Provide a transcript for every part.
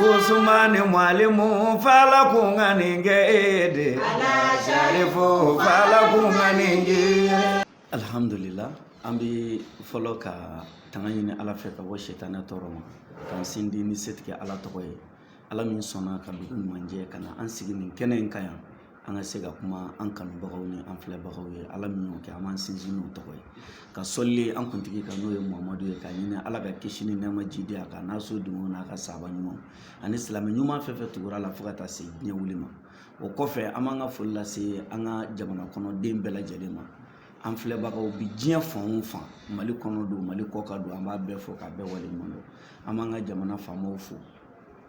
Usumani mwalimu fala kunganinge ede Sharifu fala kunganinge Alhamdulillah an bɛ fɔlɔ ka tanga ɲini ala fɛ ka bɔ setanɛ tɔɔrɔ ma k'an sindi ni setigi ala tɔgɔ ye ala min sɔnna ka dugu ɲuman jɛ ka na an sigi nin kɛnɛ in kan yan an ka se ka kuma an kanubagaw ni an filɛbagaw ye ala min y'o kɛ an b'an sindi n'o tɔgɔ ye ka seli an kuntigi kan n'o ye mamadu ye ka ɲini ala ka kisi ni nɛɛma jigin a kan n'a soden n'a ka sahaba ɲuman ani silamɛ ɲuman fɛn fɛn tugura u la fo ka taa se diɲɛ wuli ma o kɔfɛ an b'an ka foli lase an ka jamana kɔnɔ den bɛɛ lajɛlen ma an filɛbagaw bi diɲɛ fan o fan mali kɔnɔ don mali kɔkan don an b'a bɛɛ fo k'a bɛɛ waleɲuman dɔn an b'an ka jamana faamaw fo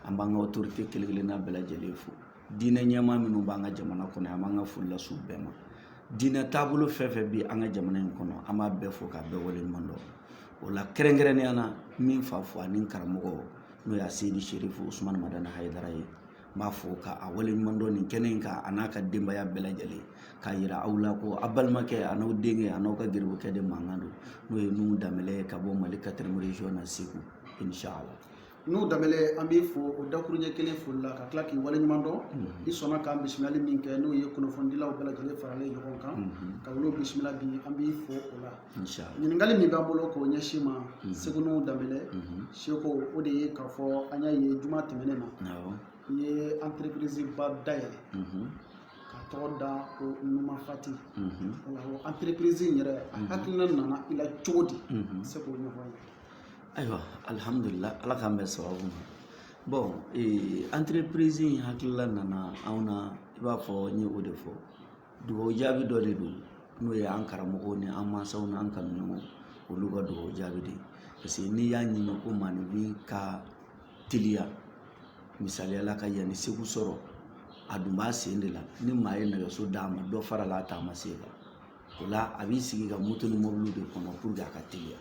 an b'an ka otorite kelen kelenna bɛɛ lajɛlen fo diinɛ ɲɛmaa minnu b'an ka jamana kɔnɔ an b'an ka foli lase u bɛɛ ma diinɛ taabolo fɛn fɛn bɛ an ka jamana in kɔnɔ an b'a bɛɛ fo k'a bɛɛ waleɲuman dɔn o la kɛrɛnkɛrɛnnenya na n bɛ n fa fo ani karamɔgɔ n'o ye aseyidi serifu usumani madani hayidara ye n b'a fo ka a waleɲuman dɔn nin kɛnɛ in kan a n'a ka denbaya bɛɛ lajɛlen k'a yira aw la ko a balimakɛ a n'aw denkɛ a n'aw ka garibukɛ de mankan don n'o ye nuhu danbɛlɛ ye ka bɔ mali quatrième région segu inshallah nuhu danbɛlɛ an b'i fo o dakurunɲɛ kelen foli la ka tila k'i waleɲuman dɔn i sɔnna k'an bisimilali min kɛ n'o ye kunnafonidilaw bɛɛ lajɛlen faralen ɲɔgɔn kan ka olu bisimila bi an b'i fo o la ɲininkali min b'an bolo k'o ɲɛsin i ma seko nuhu danbɛlɛ seko o de ye k'a fɔ an y'a ye juma tɛmɛnen na i ye entreprise ba dayɛlɛ ka tɔgɔ da ko numafati o entreprise in yɛrɛ a hakilina nana i la cogo di se k'o ɲɔgɔn ye ayiwa alihamudulila ala k'an bɛn sababu ma bɔn ee anterepirizi in hakilila nana anw na i b'a fɔ n ye o de fɔ dugawu jaabi dɔ de don n'o ye an karamɔgɔw ni an mansaw n'an kanuɲɔgɔnw olu ka dugawu jaabi de ye parce que n'i y'a ɲini ko maninfin ka teliya misaliya la ka yan ni segu sɔrɔ a dun b'a sen de la ni maa ye nɛgɛso d'a ma dɔ farala a taama sen kan o la a b'i sigi ka moto ni mɔbiliw de kɔnɔ pour que a ka teliya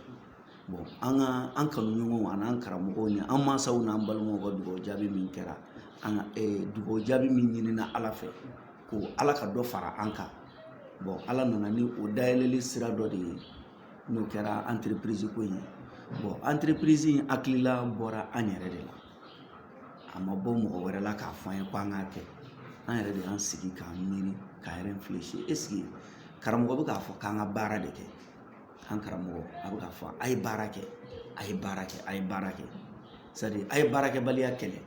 bɔn an ka an kanuɲɔgɔnw an'an karamɔgɔw ni an mansaw n'an balimaw ka dugawu jaabi min kɛra an ka eh, dugawu jaabi min ɲinina ala fɛ ko ala ka dɔ fara an kan bɔn ala nana ni o dayɛlɛli sira dɔ de ye n'o kɛra anterepirizi ko in ye bɔn anterepirizi in hakilila bɔra an yɛrɛ de la a ma bɔ mɔgɔ wɛrɛ la k'a fɔ an ye ko an k'a kɛ an yɛrɛ de y'an sigi k'an miiri ka réfléchir est-ce que karamɔgɔ bɛ k'a fɔ k'an ka baara de kɛ an karamɔgɔ a bɛ k'a fɔ a ye baara kɛ a ye baara kɛ a ye baara kɛ c'est-à-dire a ye baarakɛbaliya kɛlɛ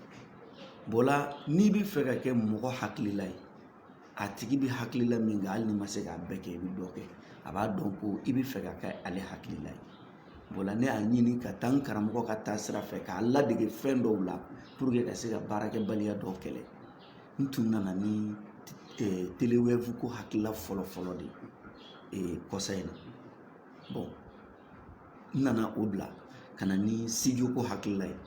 bɔn la n'i bɛ fɛ ka kɛ mɔgɔ hakilila ye a tigi bɛ hakilila min kan hali n'i ma se k'a bɛɛ kɛ i bɛ dɔ kɛ a b'a dɔn ko i bɛ fɛ ka kɛ ale hakilila ye o la ne y'a ɲini ka taa n karamɔgɔ ka taasira fɛ k'a ladege fɛn dɔw la pour que ka se ka baarakɛbaliya dɔw kɛlɛ n tun nana ni telewɛbu ko hakilila fɔlɔ fɔlɔ de ye kɔsa in na n nana o bila ka na ni studio ko hakilila ye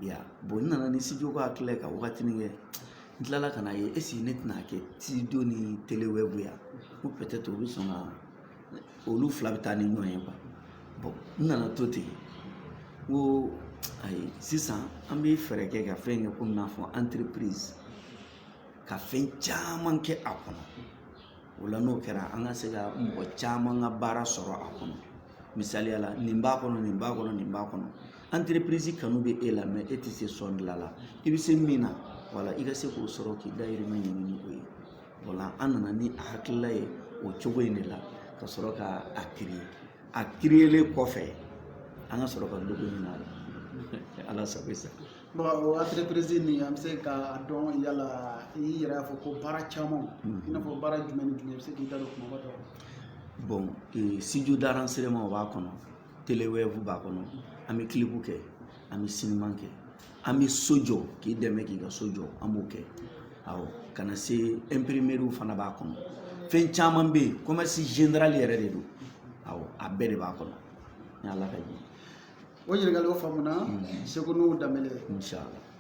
ya n nana ni studio ko hakilila ye ka wagatinin kɛ n tilala ka n'a ye esike ne tɛna kɛ studio ni telewɛbu ye ko pɛtɛtɛ u bɛ sɔn ka olu fila bɛ taa ni ɲɔgɔn ye bɔn n nana to ten ko ayi sisan an bɛ fɛɛrɛ kɛ ka fɛn kɛ komi n'a fɔ anterepirizi ka fɛn caman kɛ a kɔnɔ o la n'o kɛra an ka se ka mɔgɔ caman ka baara sɔrɔ a kɔnɔ misaliya la nin b'a kɔnɔ nin b'a kɔnɔ nin b'a kɔnɔ anterepirizi kanu bɛ e la mɛ e tɛ se sɔn dilan la i bɛ se min na wala i ka se k'o sɔrɔ k'i dayirimɛ ɲini ni o ye wala an nana ni a hakilila ye o cogo in de la ka sɔrɔ ka a kiriye a kiriyelen kɔfɛ an ka sɔrɔ ka dɔ ɲini a la ala sago i sago anterepirizi nin an bɛ se k'a dɔn yala i yɛrɛ y'a fɔ ko baara caman i n'a fɔ baara jumɛn ni jumɛn i bɛ se k'i da don kumaba dɔ bɔn eh, studio d'enregistrement b'a kɔnɔ telewɛbu b'a kɔnɔ an bɛ kilipu kɛ an bɛ sinima kɛ an bɛ so jɔ k'i dɛmɛ k'i ka so jɔ an b'o kɛ awɔ ka na se imprimerie fana b'a kɔnɔ fɛn caman bɛ yen commerce general yɛrɛ de don awɔ a bɛɛ de b'a kɔnɔ ni ala ka jɛ o ɲininkali o faamuna seko n'o daminɛ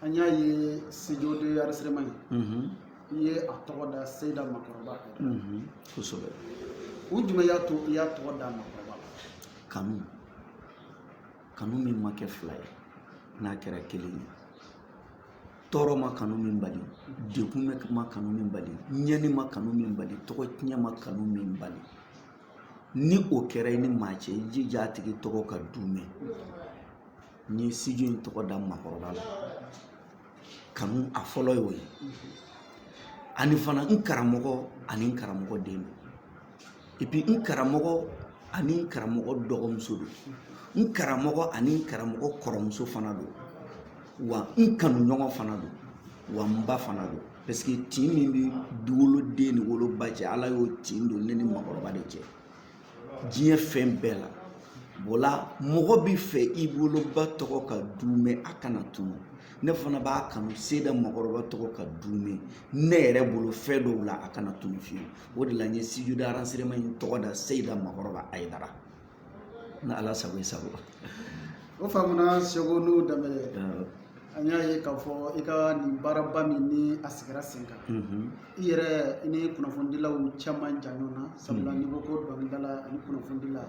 an y'a ye studio d'enregistrement i ye a tɔgɔ da seyida makɔrɔba kosɛbɛ kun jumɛn y'a to i y'a tɔgɔ da makɔrɔba kanu kanu min ma kɛ fila ye n'a kɛra kelen ye tɔɔrɔ ma kanu min bali dɛgun ma kanu min bali ɲɛni ma kanu min bali tɔgɔtiɲɛ ma kanu min bali ni o kɛra i ni maa cɛ i jija a tigi tɔgɔ ka duumɛ n ye studio in tɔgɔ da makɔrɔba la kanu a fɔlɔ y'o ye ani fana n karamɔgɔ ani n karamɔgɔ den don epi n karamɔgɔ ani n karamɔgɔ dɔgɔmuso don n karamɔgɔ ani n karamɔgɔ kɔrɔmuso fana don wa n kanu ɲɔgɔn fana don wa n ba fana don paseke tin min bɛ woloden ni woloba cɛ ala y'o tin don ne ni makɔrɔba de cɛ diɲɛ fɛn bɛɛ la bɔla mɔgɔ bɛ fɛ i woloba tɔgɔ ka duumɛ a kana tunu ne fana b'a kanu seyida makɔrɔba tɔgɔ ka duumɛ ne yɛrɛ bolo fɛn dɔw la a kana tunu fiyewu o de la n ye studio d'enregistrement in tɔgɔ da seyida makɔrɔba ayidara Ni ala sago i sago o faamuna seku nuhun danbele an y'a ye k'a fɔ i ka nin baaraba min ni a sigira sen kan i yɛrɛ i ni kunnafonidilaw cɛ man jan ɲɔgɔn na sabula n'i ko ko dɔnkilidala ani kunnafonidila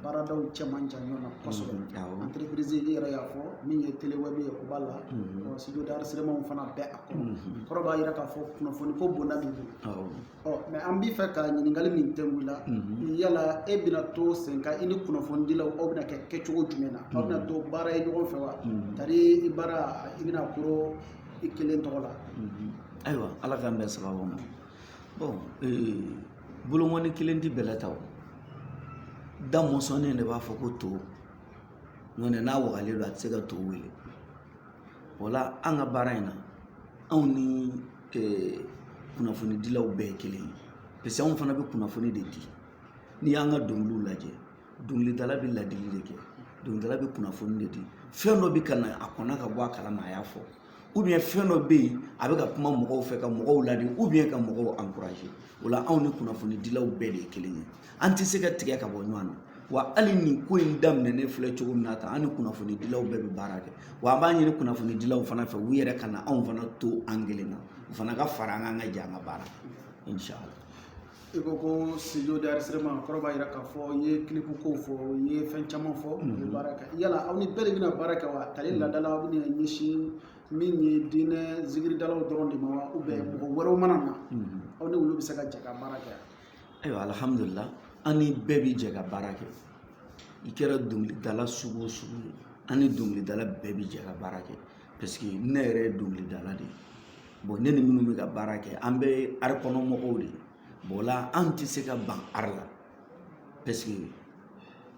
baaradaw cɛ man jan ɲɔgɔn na kosɛbɛ anterepirizi i yɛrɛ y'a fɔ min ye telewɛbu ye o b'a la ɔ studio d'enregistrementw fana bɛ a kɔnɔ kɔrɔ b'a jira k'a fɔ kunnafoniko bonda b'i bolo Ɔ mɛ an b'i fɛ ka ɲininkali min tɛ wuli la yala e bɛna to sen kan i ni kunnafonidilaw aw bɛna kɛ kɛcogo jumɛn na aw bɛna to baara ye ɲɔgɔn fɛ wa tari i baara i bɛna kuru i kelen tɔgɔ la ayiwa ala k'an bɛn sababu ma bɔn bolokɔni kelen tɛ bɛlɛ ta o da mɔsɔnnen de b'a fɔ ko to nɔntɛ n'a wagalen don a tɛ se ka to wele o la an ka baara in na anw ni kunnafonidilaw bɛɛ ye kelen ye paseke anw fana bɛ kunnafoni de di n'i y'an ka dɔnkiliw lajɛ dɔnkilidala bɛ ladili de kɛ dɔnkilidala bɛ kunnafoni de di fɛn dɔ bɛ ka na a kɔnna ka bɔ a kalama a y'a fɔ ubiyɛn fɛn dɔ bɛ yen a bɛ ka kuma mɔgɔw fɛ ka mɔgɔw ladi ubiyɛn ka mɔgɔw ankuraze o la anw ni kunnafonidilaw bɛɛ de ye kelen ye an tɛ se ka tigɛ ka bɔ ɲɔgɔn na wa hali nin ko in daminɛnen filɛ cogo min na tan an ni kunnafonidilaw bɛɛ bɛ baara kɛ wa an b'a ɲini kunnafonidilaw fana fɛ u yɛrɛ kana anw fana to an kelen na u fana ka fara an kan ka jɛ an ka baara inshallah i ko ko studio d'enregistrement kɔrɔ b'a jira k'a fɔ i ye kilipu kow fɔ i ye fɛn caman fɔ i bɛ baara kɛ yala aw ni bɛɛ de bɛna baara kɛ wa tari laada la aw bɛna ɲɛsin min ye diinɛ zikiridalaw dɔrɔn de ma wa mɔgɔ wɛrɛw mana na aw ni olu bɛ se ka jɛ ka baara kɛ ayiwa alihamudulila an ni bɛɛ bi jɛ ka baara kɛ i kɛra dɔnkilidala sugu o sugu ye an ni dɔnkilidala bɛɛ bi jɛ ka baara kɛ paseke ne yɛrɛ ye dɔnkilidala de ye bɔn ne ni minnu bɛ ka baara kɛ an bɛɛ ye ari kɔnɔ mɔgɔw de ye bɔn o la an tɛ se ka ban ari la paseke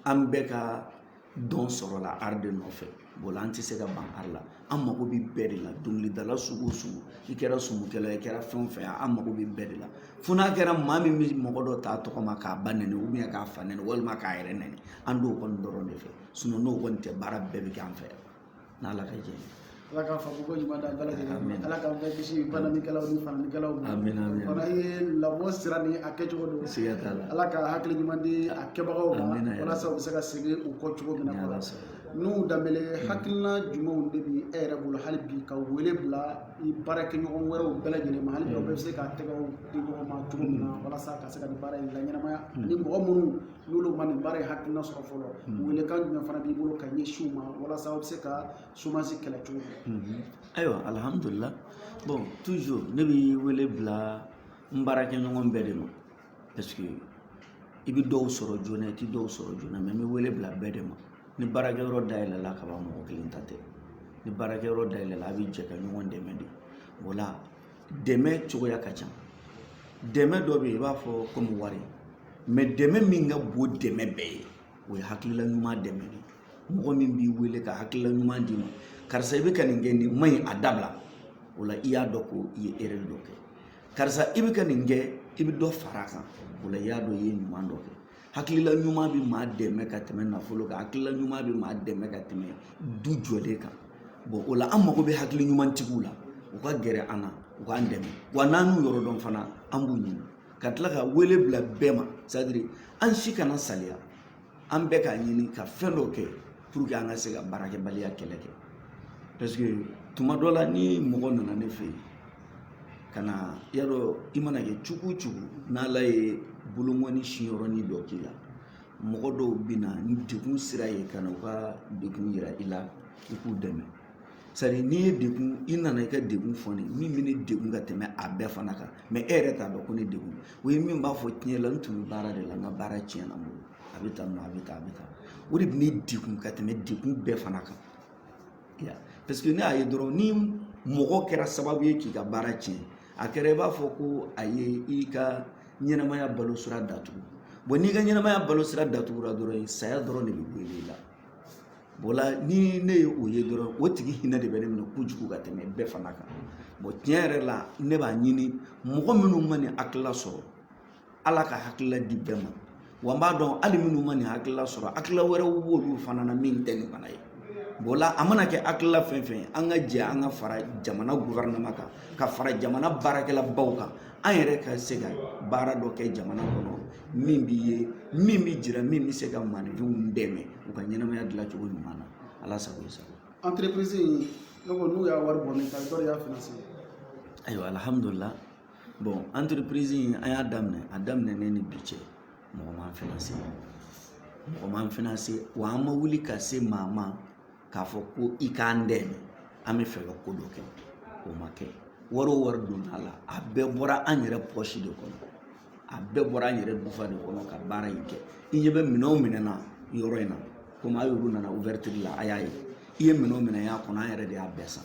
an bɛɛ ka dɔn sɔrɔla ari de nɔfɛ bɔn o la an tɛ se ka ban ari la an mago bɛ bɛɛ de la dɔnkilidala sugu o sugu i kɛra sumukɛla ye i kɛra fɛn o fɛn ye an mago bɛ bɛɛ de la fo n'a kɛra maa min bɛ mɔgɔ dɔ ta a tɔgɔ ma k'a ba nɛni ubiyɛn k'a fa nɛni walima k'a yɛrɛ nɛni an t'o kɔni dɔrɔn de fɛ sinɔn n'o kɔni tɛ baara bɛɛ bɛ kɛ an fɛ yan n'ala ka jɛ ala k'a fɔ ko ɲuman da bɛɛ lajɛlen ala k'an bɛɛ kisi banɛnikɛlaw ni fanɛnikɛlaw ma fana ye lamɔ sira ni a kɛcogo don siga t'a la ala ka hakili ɲuman di a kɛbagaw ma walasa u bɛ se ka segin u kɔ cogo min na kɔrɔ nuhun danbele hakilina jumɛnw de bi e yɛrɛ bolo hali bi ka wele bila i baarakɛɲɔgɔn wɛrɛw bɛɛ lajɛlen ma hali bi aw bɛɛ bɛ se ka tɛgɛw di ɲɔgɔn ma cogo min na walasa ka se ka nin baara in laɲɛnamaya ani mɔgɔ minnu n'olu ma nin baara in hakilina sɔrɔ fɔlɔ welekan jumɛn fana b'i bolo ka ɲɛsin u ma walasa u bɛ se ka somasi kɛlɛ cogo min ayiwa alihamudulila bɔn tuzuru ne bɛ wele bila n baarakɛɲɔgɔn bɛɛ de ma paseke i bɛ dɔw sɔrɔ joona i tɛ dɔw sɔrɔ joona mɛ n bɛ wele bila bɛɛ de ma ni baarakɛyɔrɔ dayɛlɛla ka ban mɔgɔ kelen ta tɛ ni baarakɛyɔrɔ dayɛlɛla a bɛ jɛ ka ɲɔgɔn dɛmɛ de o la dɛmɛ cogoya ka ca dɛmɛ dɔ bɛ yen i b'a fɔ komi wari mɛ dɛmɛ min ka bon dɛmɛ bɛɛ ye o ye hakilila ɲuman dɛmɛ de mɔgɔ min b'i wele ka hakilila ɲuman d'i ma karisa i bɛ ka nin kɛ nin man ɲi a dabila o la i y'a dɔn ko i ye erɛri dɔ kɛ karisa i bɛ ka nin kɛ i bɛ dɔ fara a kan o la i y'a dɔn i ye ɲuman dɔ kɛ hakilila ɲuman bɛ maa dɛmɛ ka tɛmɛ nafolo kan hakilila ɲuman bɛ maa dɛmɛ ka tɛmɛ du jɔlen kan bɔn o la an mago bɛ hakili ɲumantigiw la u ka gɛrɛ an na u k'an dɛmɛ wa n'an y'u yɔrɔ dɔn fana an b'u ɲini ka tila ka wele bila bɛɛ ma sadiri an si kana saliya an bɛɛ k'a ɲini ka fɛn dɔ kɛ pour que an ka se ka baarakɛbaliya kɛlɛ kɛ parce que tuma dɔ la ni mɔgɔ nana ne fɛ yen ka na y'a dɔn i mana kɛ cogo cogo n'ala ye bolokɔni sinyɔrɔnin dɔ k'i la mɔgɔ dɔw bɛ na ni degun sira ye ka na u ka degun yira i la i k'u dɛmɛ sari n'i ye degun i nana i ka degun fɔ ne min bɛ ne degun ka tɛmɛ a bɛɛ fana kan mɛ e yɛrɛ t'a dɔn ko ne degun o ye min b'a fɔ tiɲɛ la n tun bɛ baara de la n ka baara tiɲɛna n bolo a bɛ tan nɔ a bɛ tan a bɛ tan o de bɛ ne degun ka tɛmɛ degun bɛɛ fana kan parce que ne y'a ye dɔrɔn ni mɔgɔ kɛra sababu ye k'i ka baara tiɲɛ a kɛra i b'a fɔ ko a ye i ka ɲɛnamaya balo sira datugu bɔn n'i ka ɲɛnamaya balo sira datugura dɔrɔn saya dɔrɔn de bɛ gɛrɛ i la o la ni ne ye o ye dɔrɔn o tigi hinɛ de bɛ ne minɛ kojugu ka tɛmɛ bɛɛ fana kan bɔn tiɲɛ yɛrɛ la ne b'a ɲini mɔgɔ minnu ma nin hakilila sɔrɔ ala ka hakilila di bɛɛ ma wa n b'a dɔn hali minnu ma nin hakilila sɔrɔ hakilila wɛrɛw b'olu fana na min tɛ nin fana ye o la a mana kɛ hakilila fɛn fɛn ye an ka jɛ an ka fara jamana gofɛrɛnaman kan ka fara jamana baarakɛlabaw kan an yɛrɛ ka se ka baara dɔ kɛ jamana kɔnɔ min bɛ ye min bɛ jira min bɛ se ka maninfinw dɛmɛ u ka ɲɛnamaya dilan cogo ɲuman na ala sago i sago entreprise in ne ko n'u y'a wari bɔ ne ta dɔ de y'a finansɛ ayiwa alihamudulila bɔn anterepirizi in an y'a daminɛ a daminɛnen ni bi cɛ mɔgɔ m'an finanse mɔgɔ m'an finanse wa an ma wuli ka se maa ma k'a fɔ ko i k'an dɛmɛ an bɛ fɛ ka ko dɔ kɛ o ma kɛ wari o wari donna a la a bɛɛ bɔra an yɛrɛ pɔsi de kɔnɔ a bɛɛ bɔra an yɛrɛ dufa de kɔnɔ ka baara in kɛ i ɲɛ bɛ minɛn o minɛn na yɔrɔ in na komi a yɛrɛw nana ouverture la a y'a ye i ye minɛn o minɛn y'a kɔnɔ an yɛrɛ de y'a bɛɛ san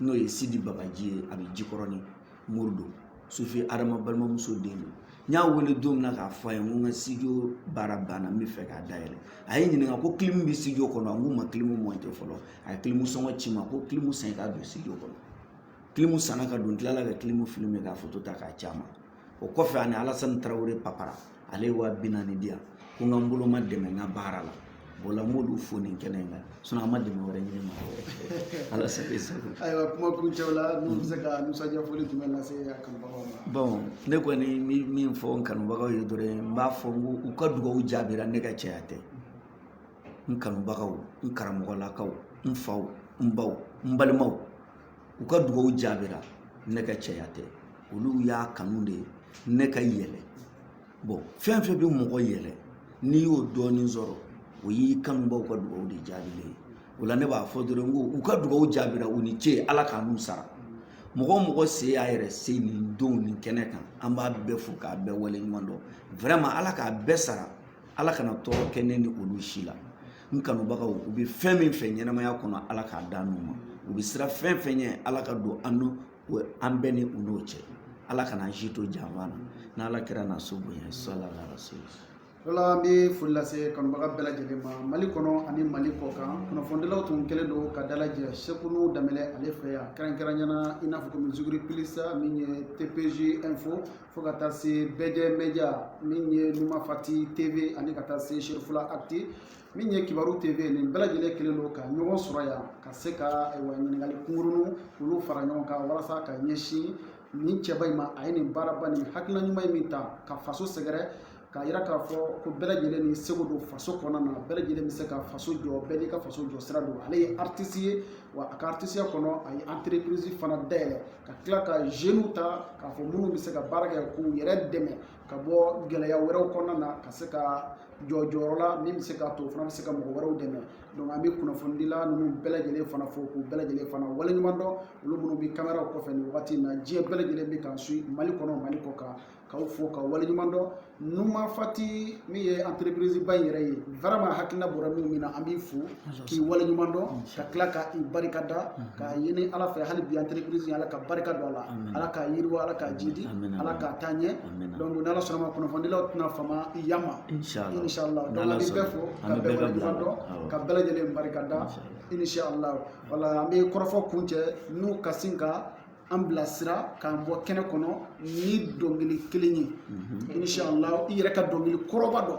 n'o ye sidi bagaji ye a bɛ jikɔrɔni mori don sufi adama balimamuso den don n y'a wele don min na k'a fɔ a ye n ko n ka sijo baara banna n bɛ fɛ k'a dayɛlɛ a ye n ɲininka ko kilimu bɛ sijo kɔnɔ n k'u ma kilimu monte fɔlɔ a ye kilimu sɔngɔ ci n ma ko kilimu san i k'a don sijo kɔnɔ kilimu sanna ka don n tilala ka kilimu filime k'a foto ta k'a ci a ma o kɔfɛ ani alasani tarawele papara ale ye waa bi naani di yan ko n ka n bolomadɛmɛ n ka baara la o la n b'olu fo nin kɛnɛ in kan a ma dɛmɛ wɛrɛ ɲini ma ala sago i sago ayiwa kuma kuncɛ la n'u bɛ se ka nisɔndiya foli jumɛn lase a kanubagaw ma bɔn ne kɔni bɛ min fɔ n kanubagaw ye dɔrɔn n b'a fɔ n ko u ka dugawu jaabira ne ka cɛya tɛ n kanubagaw n karamɔgɔlakaw n faw n baw n balimaw u ka dugawu jaabira ne ka cɛya tɛ olu y'a kanu de ne ka yɛlɛ bɔn fɛn fɛn bɛ mɔgɔ yɛlɛ n'i y'o dɔɔnin sɔrɔ o y'i kanubaw ka dugawu de jaabilen ye o la ne b'a fɔ dɔrɔn ko u ka dugawu jaabira u ni ce ala k'an n'u sara mɔgɔ o mɔgɔ se y'a yɛrɛ se nin don nin kɛnɛ kan an b'a bɛɛ fo k'a bɛɛ waleɲuman dɔn vraiment ala k'a bɛɛ sara ala kana tɔɔrɔ kɛ ne ni olu si la n kanubagaw u bɛ fɛn min fɛ ɲɛnamaya kɔnɔ ala k'a d'an n'u ma u bɛ siran fɛn fɛn ɲɛ ala ka don an n'u an bɛɛ ni u n'o cɛ ala kana an si to janfa na n'ala kira n'a so bonya sala la rasul wala an bɛ foli lase kanubaga bɛɛ lajɛlen ma mali kɔnɔ ani mali kɔkan kunnafonidilaw tun kɛlen don ka dalajɛ sekunu daminɛ ale fɛ yan kɛrɛnkɛrɛnyana i n'a fɔ komi zuguri pilisa min ye tpz info fo ka taa se bɛɛjɛ media min ye numafati tv ani ka taa se sherifula actu min ye kibaru tv nin bɛɛ lajɛlen kɛlen don ka ɲɔgɔn sɔrɔ yan ka se ka ayiwa ɲininkali kunkurunw olu fara ɲɔgɔn kan walasa ka ɲɛsin nin cɛba in ma a ye nin baaraba nin hakilina ɲuman in min ta ka faso sɛgɛrɛ k'a yira k'a fɔ ko bɛɛ lajɛlen n'i seko don faso kɔnɔna na bɛɛ lajɛlen bɛ se ka faso jɔ bɛɛ n'i ka faso jɔ sira don ale ye aritisi ye wa a ka aritisiya kɔnɔ a ye anterepirizi fana dayɛlɛ ka tila ka zeniw ta k'a fɔ minnu bɛ se ka baara kɛ k'u yɛrɛ dɛmɛ ka bɔ gɛlɛya wɛrɛw kɔnɔna na ka se ka jɔ jɔyɔrɔ la min bɛ se k'a to o fana bɛ se ka mɔgɔ wɛrɛw dɛmɛ donc an bɛ kunnafonidila ninnu bɛɛ lajɛlen fana fo k'u bɛɛ lajɛlen fana waleɲuman dɔn olu minnu bɛ kameraw kɔfɛ nin wagati in na diɲɛ bɛɛ lajɛlen bɛ k'an suivre mali kɔnɔ mali kɔkan k'aw fo k'aw waleɲuman dɔn numafati min ye entreprise ba in yɛrɛ ye vraiment hakilina bɔra mɔgɔ min na an b'i fo k'i waleɲuman dɔn ka tila ka i barika da k'a ɲini ala fɛ hali bi entreprise in ala ka barika don a la ala k'a yiriwa ala k'a jidi ala k'a taa ɲɛ donc ni ala sɔnna a ma kunnafonidilaw tɛna fama i yama inshallah donc an bɛ bɛɛ fo ka bɛɛ waleɲuman dɔn ka bɛɛ lajɛlen barika da inshallah wala an bɛ kɔrɔfɔ kuncɛ n'u ka sin ka an bilasira k'an bɔ kɛnɛ kɔnɔ ni dɔnkili kelen ye inshallah i yɛrɛ ka dɔnkili kɔrɔba dɔ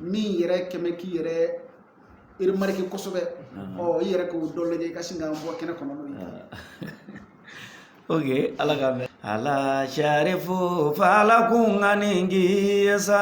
min yɛrɛ kɛmɛ k'i yɛrɛ remarqué kosɛbɛ ɔ i yɛrɛ k'o dɔ lajɛ i ka sin k'an bɔ kɛnɛ kɔnɔ n'o ye ok ala ka mɛn ala sarifu ala kun ka nin k'i ye sa